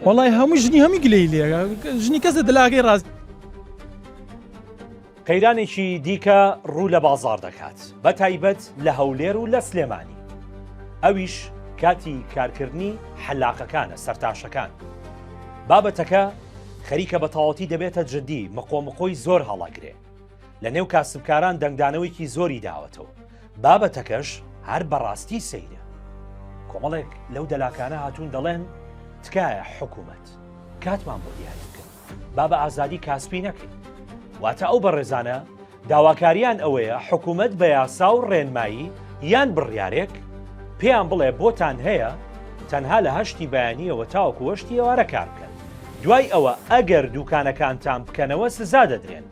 وەڵای هەموو ژنی هەمی گلەی لێ ژنی کەسە دلاگەی ڕاست. قەیرانێکی دیکە ڕوو لە بازاڕ دەکات بە تایبەت لە هەولێر و لە سلێمانی ئەویش کاتی کارکردنی حەلاقەکانە سەرتاشەکان بابەتەکە خەریکە بە تاوەتی دەبێتە جددی مقۆمقۆی زۆر هەڵاگرێ لە نێو کاسبکاران دەنگدانەوەیکی زۆری داوەتەوە، بابەتەکەش هەر بەڕاستی سەیرە. کۆمەڵێک لەو دەلاکانە هاتوون دەڵێن تکایە حکومەت کاتمان بۆ دیاری بکەن با بە ئازادی کاسپی نەکەین. واتە ئەو بەڕێزانە داواکاریان ئەوەیە حکومەت بە یاسا و ڕێنمایی یان بڕیارێک پێیان بڵێ بۆتان هەیە تەنها لە هەشتی بەیانیەوە تاوەکو هەشتی ئێوارە کار بکەن. دوای ئەوە ئەگەر دووکانەکانتان بکەنەوە سزا دەدرێن.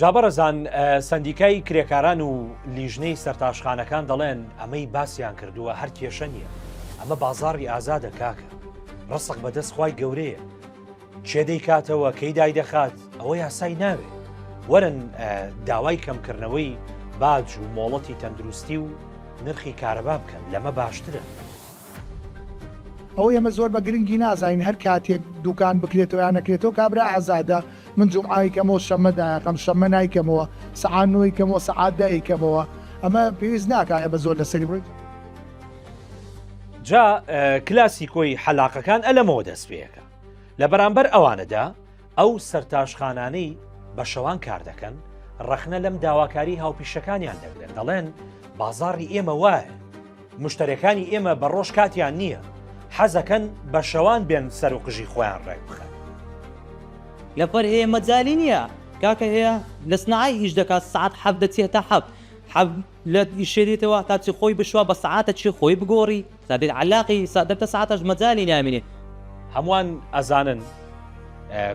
جابەڕزان سندیکای کرێکاران و لیژنەی سەرتاشخانەکان دەڵێن ئەمەی باسییان کردووە هەر کێشە نییە ئەمە بازاری ئازادە کاکە ڕسق بەدەست خی گەورەیە چێ دەیکاتەوە کەی دای دەخات ئەوە یاسای ناوێت وەرن داوای کەمکردنەوەی باج و مۆڵەتی تەندروستی و نرخی کارەبا بکەن لەمە باشترە ئەوەی ئێمە زۆر بە گرنگی نازانین هەر کاتێک دوکان بکرێتەوە یان نەکرێتەوە کابرا ئازادە من جومعە ئەیکەمەوە شەممە دایەقەم شەممە نایکەمەوە سەعات نۆ ئەیکەمەوە سەعات دە ئەیکەمەوە ئەمە پێویست ناکا ئێمە زۆر لەسەری بڕوین. جا کلاسیکۆی حەلاقەکان ئەلەمەوە دەست پێیەکە لە بەرامبەر ئەوانەدا ئەو سەرتاشخانانەی بە شەوان کار دەکەن، ڕەخنە لەم داواکاریی هاوپیشەکانیان دەگرن، دەڵێن، بازاڕی ئێمە وایە، مشتەرێکانی ئێمە بە ڕۆژ کاتیان نییە، حەزەکەن بە شەوان بێن سەر و قژی خۆیان ڕێک بخەن. لەپەر هەیە مەجالی نییە. کاکە هەیە لە سنعای ئیش دەکات، سەعات حەفت دەچێتە حەفت، حەفت لە ئیش دێتەوە، تا چی خۆی بشوا بە سەعاتە چی خۆی بگۆڕی؟ سابیر عەلاقی سە دە تە سعاتاش مە جالی نامینێ. هەمووان ئەزانن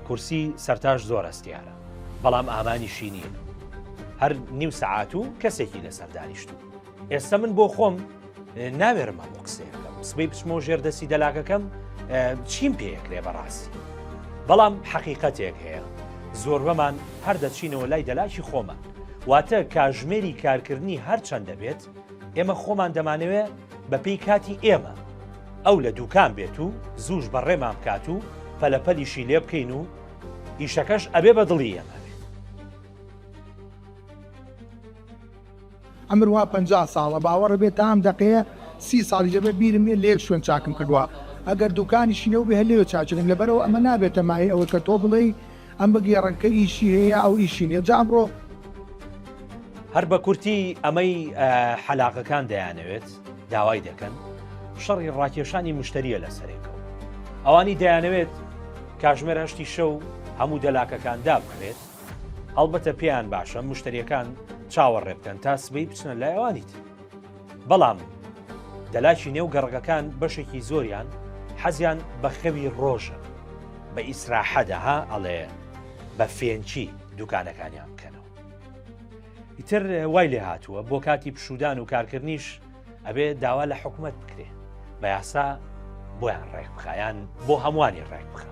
کورسی سەرتاش زۆر هەستیارە بەڵام ئامانیشی نییە هەر نیو سەعات و کەسێکی لەسەر دانیشتوو ئێستا من بۆ خۆم ناوێرم هەموو قسەیەکەم سبەی بچمەوە ژێر دەستی دەلاکەکەم چیم پێکرێ بەڕاستی بەڵام حەقیقەتێک هەیە زۆربەمان هەر دەچینەوە لای دەلاکی خۆمان واتە کاژمێری کارکردنی هەرچەند دەبێت ئێمە خۆمان دەمانەوێ بە پێی کاتی ئێمە ئەو لە دووکان بێت و زووش بەڕێمان بکات و پەلەپەلیشی لێ بکەین و ئیشەکەش ئەبێ بە دڵی ئێمە ئەمر وا پنج ساڵە باوەڕ بێت تا ئەم دەقەیە سی ساڵی جەبێ بیرم نیە لێک شوێن چاکم کردووە ئەگەر دوکانیشی نەوبێ هەر لێوێ چاچکم لەبەرەوە ئەمە نابێتە مایە ئەوەی کە تۆ بڵێی ئەم بگێڕنکە ئیشی هەیە ئەو ئیشی نیە جا ئەمڕۆ. هەر بە کورتی ئەمەی حەلاقەکان دەیانەوێت داوای دەکەن شەڕی ڕاکێشانی مشتریە لە سەرێکەوە ئەوانی دەیانەوێت کاژمێر هەشتی شەو هەموو دەلاکەکان دابخرێت هەڵبەتە پێیان باشە مشتریەکان چاوەڕێ بکەن تا سبەی بچنە لایەوانیت بەڵام دەلاکی نێو گەڕەکەکان بەشێکی زۆریان حەزیان بە خەوی ڕۆژە بە ئیسراحەدا ها ئەڵێ بە فێنکی دوکانەکانیان بکەنەوە ئیتر وای لێ هاتووە بۆ کاتی پشودان و کارکردنیش ئەبێ داوا لە حکوومەت بکرێ بە یاسا بۆیان ڕێک بخیان بۆ هەمووانی ڕێک بخە